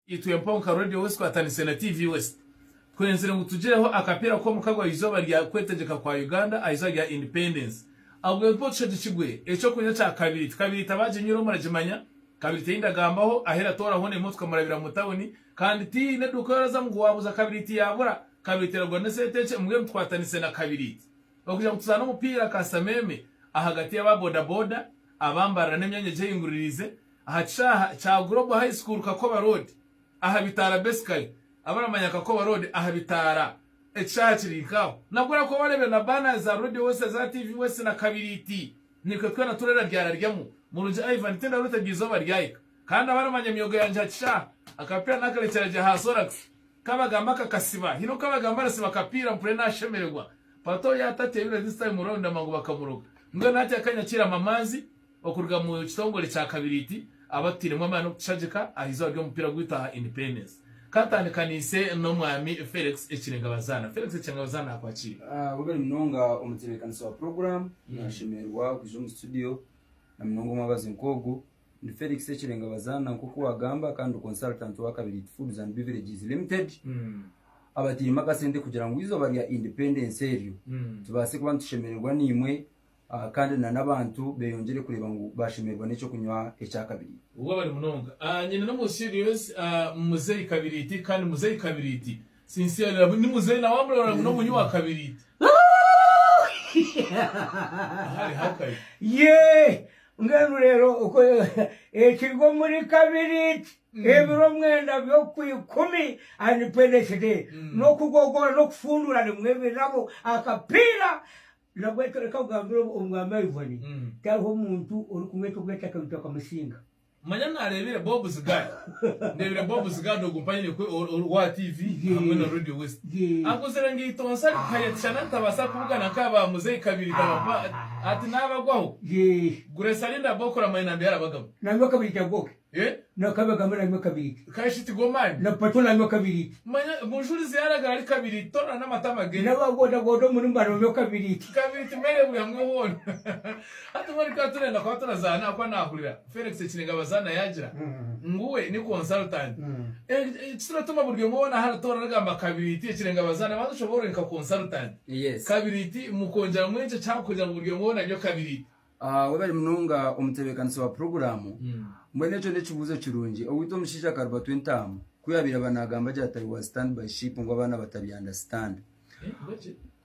Itwe mpaho nka Radio West twatandiise na TV West, twenzire ngu tugireho akapiira k'omuka gwa izooba rya kwetegyeka kwa Uganda aha izooba rya Independence. Ahubwo mpaho tushagikirwe eky'okunywa kya kabiriti. Kabiriti abaaginywire muragimanya. Kabiriti ei ndagambaho ahu eratooraho hona emotoka murabira mu tawuni kandi tihaine eduuka ei orazamu ngu waabuuza kabiriti yaabura. Kabiriti eragura n'esente nkye, mbwenu twatandiise na kabiriti okugira ngu tuzaane omupiira kasameeme ahagati y'aba boda boda, abambarira n'emyanya egi ehinguririize Aha kishaaha kya Global High School Kakoba Road aha bitaara Basically abaramanya Kakoba Road aha bitaara ekishaaha kiri nkaaho. Nabwo orakuba wareebire na banners za Radio West eza TV West na Kabiriiti Nikwe twena turera ryararyamu Murungi Ivan Tindaroota eryo izooba ryahika Kandi abaramanya emyogo yangye aha kishaaha Akapiira nakarekyera gye aha Sorax Kabagamba kakasiba Hine okukabagamba arasiba akapiira mpurire nashemererwa Pato yaatatya ebiro this time round amangu bakamuroga Mbwenu hati akanya kiirama amaanzi Okuruga mu kitongore kya kabiriiti abatutairemu amaani okutushagika aha izooba ry'omupiira gwaitu aha Independence. Ka ntandikanise n'Omwami Felix Ekirengabazana. Felix Ekirengabazana naakwakiira. Webale munonga omutebeekanisa wa puroguraamu. Naashemererwa kwija omu situdiyo na munonga omwabazi nk'ogu. Ndi Felix Ekirengabazana nk'oku waagamba kandi ndi konsaltanti wa Kabiriiti Foods and Beverages Limited abatairemu akasente kugira ngu izooba rya Independence eryo tubaase kuba nitushemererwa naimwe kandi na n'abantu beeyongyere kureeba ngu baashemererwa n'eky'okunywa ekya kabiri. Obwo bari munonga ah, nyina n'omunsi egyo yonsi ah, Muzeeyi kabiriiti, kandi Muzeeyi kabiriiti, sincerely ni Muzeeyi nawe amurora ngu n'omunywi wa kabiriiti. Ahari hakahi. Yee! Mbwenu reero oku ekiri omuri kabiriiti, ebiro mwenda by'okwa ikumi, Independence Day, n'okugogoora n'okufunduura rimwe ebirabo, akapiira, Nabwe reka nkugambire obu Omwaami aribone, tihariho muntu orikumweta obw'ente akamitwe akamusinga. Manya naareebire Bob Zigard. Ndeebire Bob Zigard ogu mpayiniya ku OR TV hamwe na Radio West. Akuzire ngu eitonsa rikuhaya ekishana ritabaasa kubugana nka ba Muzeeyi Kabirita Bapa ati naabagwaho. Grace Arinda Bokora Mainambi arabagamba. Nangwa Kabirita Goke Eh? Na kabi agambe nanywa kabiri ke. Ka shi tigo mani? Na pato nanywa kabiri ke. Manya, gunjurize yaraga ahari kabiri to na n'amatama ge. Na ba godagoda omuri mwe banonywa kabiri ke. Kabiri ti mere buri hamwe hoona. Hati mbwenu ka turenda kuba turazaana ahakuba nahurira Felix ekiniga bazaana yagira ngu we ni consultant. Eh, ekituratuma buri omwe wona ahari tooro aragamba kabiri ti ekirenga bazaana banza oshoboorwe nka consultant. Yes. Kabiri ti mukongyeramu enkyekye ahakugira ngu buri omwe wona anywe kabiri ti. Ah, webare munonga omutebekanisi wa puroguramu mbwenu ekyo n'ekibuuzo kirungi owitwa omushaija akaruba twentaamu ku yabaire aba nagamba agira ati i was stand by ship ngu abaana batabya understand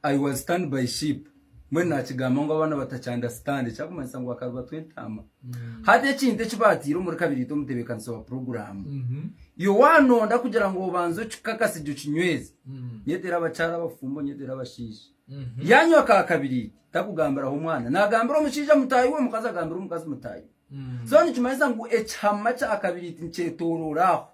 i was stand by ship mbwenu nakigamba ngu abaana batakya understand ekyakumanyisa ngu akaruba twentaama hati ekintu eki batiire omuri kabiri itwe omutebekanisi wa puroguramu yo wanonda kugira ngu obanze okikakase gye okinyweze nyeteera abakyara abafumbo nyeteera abashaija Yaanywa ka kabiri iti, takugambiraho omwana. Naagambira omushaija mutaahi we, omukazi agambira omukazi mutaahi we. So nikimanyisa ngu ekihama kya kabiri iti nikyetooroora aho.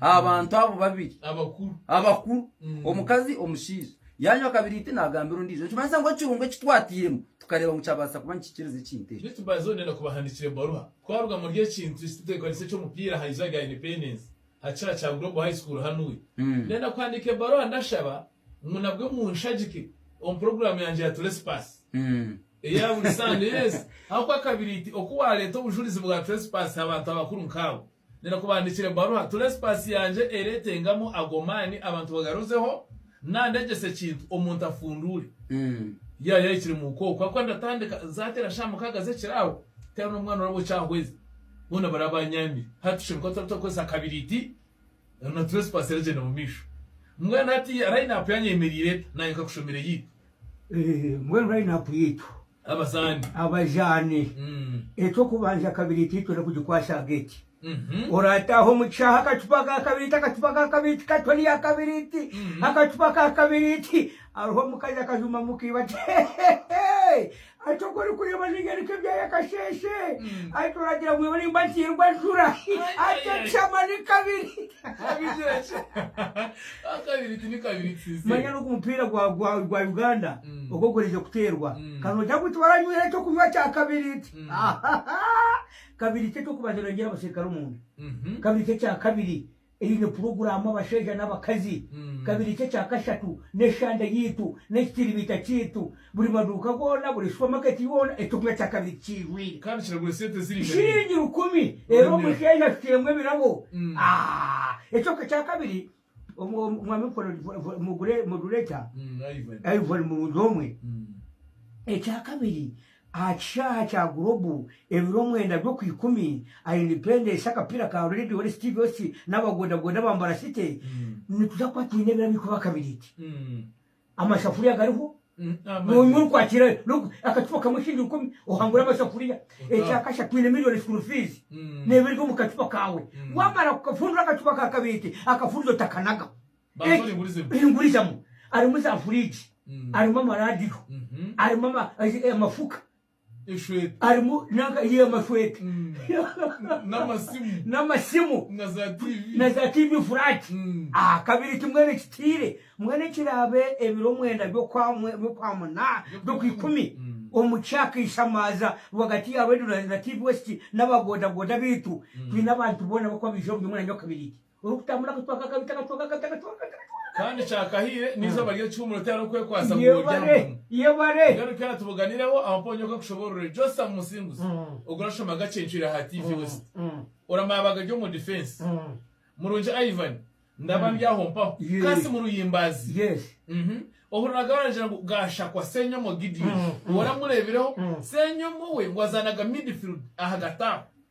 Aha bantu abo babiri. Abakuru. Abakuru. Omukazi, omushaija. Yaanywa kabiri iti naagambira ondiijo. Nikimanyisa ngu ekirungo eki twatairemu tukareeba ngu kyabaasa kuba nikikiriza ekintu eki. Rift Valley Zone Neenda kubahandiikira ebaruha. Twaruga omuri ekintu eki titwekwatisa eky'omupiira aha izooba rya Independence aha kishaayi kya Global High School hanu. Neenda kuhandiika ebaruha ndashaba. ngu nabwe munshagike omu puroguraamu yangye ya Turespass eya buri Sande. Yes, ahabw'okuba kabiriiti oku waareeta obujurizi bwa Turespass ha bantu abakuru nk'abo, ndinakubaandiikira ebaruha. Turespass yangye ereetengamu ago maani abantu bagaruzeho naandegyesa ekintu omuntu afunduure yaaba yahikire mu ka okwo. Ahabw'okuba ndatandika zaateera shaaha mukaaga z'ekiro aho, tihariho n'omwana oraba okyahweza, boona baraba baanyaamire. Hati tushemeriire kuba turaba turakozesa kabiriiti. Reero na trespass eragyenda mu maisho. Mbwenu hati line up yanyu eyemereire eta? Naanye nkakushomera eyaitu. Mbwenu line up yaitu. Abazaani. Abazaani. Eky'okubanja kabiri itwe itwe n'okugikwasa aha gate. Oraataaha omu kishaaha akacupa ka kabiriiti, akacupa ka kabiriiti katwa rya kabiriiti, akacupa ka kabiriiti. Hariho omukazi akajumamu kaiba ati, Hehehe! Ati, Oku orikureeba ninyoreka ebyaya kasheeshe. Ati, Oragira ngu iwe orimba ntiirwa njura. Ati, Ekishama ni kabiri. Manya n'ogu mupiira gwa Uganda ogu ogurize kuteerwa. Ka noogira ngu tiwaranywire ekyokunywa kya kabiri. Kabiri ti eky'okubanza noorengyera abasirikare omunda. Kabiri ti ekya kabiri. Eine puroguraamu abashaija n'abakazi, kabiri kye kya kashatu, n'eshande yaitu, n'ekitiribiita kyaitu, buri maduuka goona, buri supamaketi yoona, ekibumba kya kabiri kikiijwire. Kandi kiragura sente eziri nka biri. Shilingi rukumi, reero omushaija ashukiremu ebirabo. Aah! Ekyo kya kabiri, Mwami Mukora, mugure, mugure ekya. Ivory. Ivory murungi omwe. Ekya kabiri, Aha kishaaha kya Global, ebiro mwenda by'okwa ikumi a Independence, akapiira ka Red Horse TVOC n'aba bodaboda ba Mbara City, nituza kuba twine ebiro abaikuru ba kabiriiti. Amasafuriya gariho, noonya orikwakira akacupa kamwe shiringi rukumi, ohangura amasafuriya. Ekya kasha, twine milioni school fees n'ebiryo omu kacupa kaawe. Waamara kukafundura akacupa ka kabiriiti, akafundizo takanaga. eringurizamu arimu za furiigi arimu amaraadiyo arimu amafuka arimu amashweta n'amasimu na za tiivi furaati aha kabiri ti mbwenu ekitiire mbwenu ekiraabe ebiro mwenda by'okwamuna by'okwikumi omu kyakaishamaaza rwagati ya reediyo na tiivi wesiti n'aba boodabooda baitu twine abantu boona abarikuba baija omu by'omwanya gwa kabiriiti. orikutambura akacwaka akabi takacwaka akabi takacwaka akabi takacwaka Kandi kyakahiire n'eizooba ry'ekihumuro tihariho kwekwatsa ngu worye aha Yebare, mulimu. yebare. Mbwenu kera tubuganireho aha mponya oku akushoboororere. Jotham Musinguzi, Mm. ogu orashoma gakye ncwire aha TV West. Mm. Oramaabaga ari omu difensi. Mm. Murungi Ivan, ndaba ndi aho mpaho. Yee. Kasi Muruyimbaazi. Yes. Mhm. Ohuriraga baragira ngu Gashakwa, Senyomo Gideon. Mm, mm. Woramureebireho? Mm. Senyomo we ngu azaanaga midfield ahagati aho.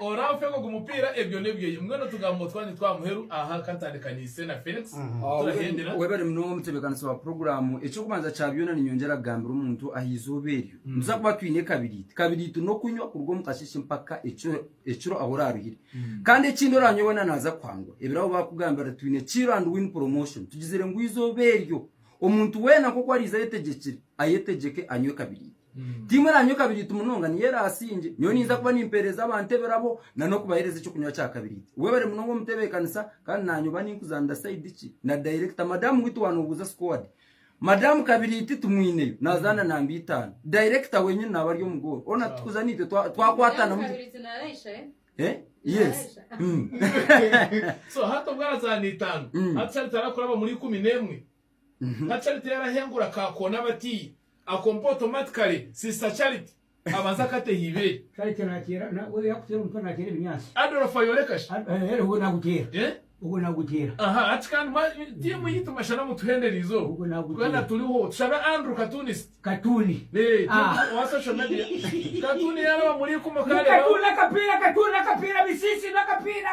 Oramfega ogu mupiira ebyo nebyeye mbwenu tugambo twangye twa muheru aha kantandikaniise na Felix turahendera. Webare munonga omutebekanisi wa puroguramu. Eky'okubanza kya byona ninyongyera kugambira omuntu aha izooba eryo nituza kuba twine kabiriiti. Kabiriiti n'okunywa kuruga omu kasheeshe mpaka ekiro ahu oraaruhire. Kandi ekindi oranywa weena naaza kuhangwa. Ebirabo baakugambira twine kill and win promotion. Tugizire ngu izooba eryo omuntu weena nk'oku ariize ayetegyekire, ayetegyeke anywe kabiriiti. Ti imwe na nyowe kabiriiti munonga, niyo eraasingye. Nyowe ninza kuba nimpeereza abantu ebirabo na n'okubaheereza eky'okunywa kya kabiriiti. We bari munonga omu tebeekanisa, kandi naanye oba ninkuzanira saidi ki? Na dayirekita, madamu witu wa Nobuuza Sikuwadi, madamu kabiriiti tumwineyo, naazaana namba itaano. Dayirekita wenyini naaba ari omu goolo. Hoona tukuza naitwe twakwatana mu Madamu kabiriiti naraisha, eh? Nka Charity yarahengura ka koona abati akompe automatically sister Charity abanza akate hibeeri. Charity nateera na we yakuteera omutwe nateera ebinyaatsi. Adolf ayoreka shi? Ad eh ogwo naguteera. Eh? Ogwo naguteera. Aha hati kandi mwa team yitu mashana mutuhendera izooba. Ogwo naguteera. Twena turiho. Tushabe Andrew Katunisi. Katuuni akapiira katuuni akapiira bisiisi na akapiira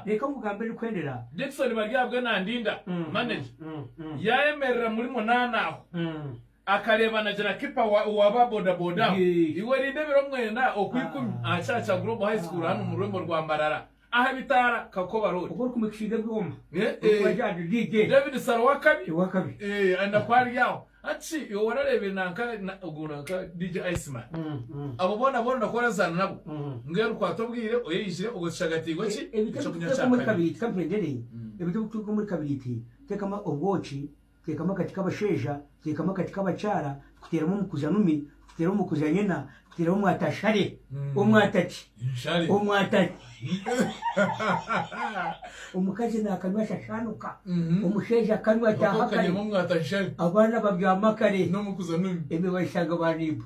reka nkugambe erikwendera Dickson Baryaabwe Nandinda manager yaayemerera muri munaana aho akareeba anagira kipa wa ba bodaboda aho iwe rindebera omwenda okwa ikumi aha Kyakya Global High School hanu omu rurembo rwa Mbarara. aha bitaara Kakoba Road. Obu orikumixa iga ebyoma orikuba gyaryo DJ David Sara owakabi owakabi eeh ari nakwo ari aho hati shi iwe warareebire nanka ogwo nanka DJ Iceman abo boona boona nakwo orazaana nabo mbwenu orukwata obwire oyeijire obwo tushagatiirwe ki ekyokunywa kya kabiri. Ebyo ebi turikuteeka omuri kabiriiti tekamu obwoki. Teekamu akati k'abashaija, teekamu akati k'abakyara, rikuteeramu omukuza numi, rikuteeramu omukuza nyina, rikuteeramu omwata nshare, omwata ki? Omwata ki? Omukazi naakanywa shashaanuka, omushaija akanywa ataaha kare, abaana babyama kare, emiba baishanga baaniiba.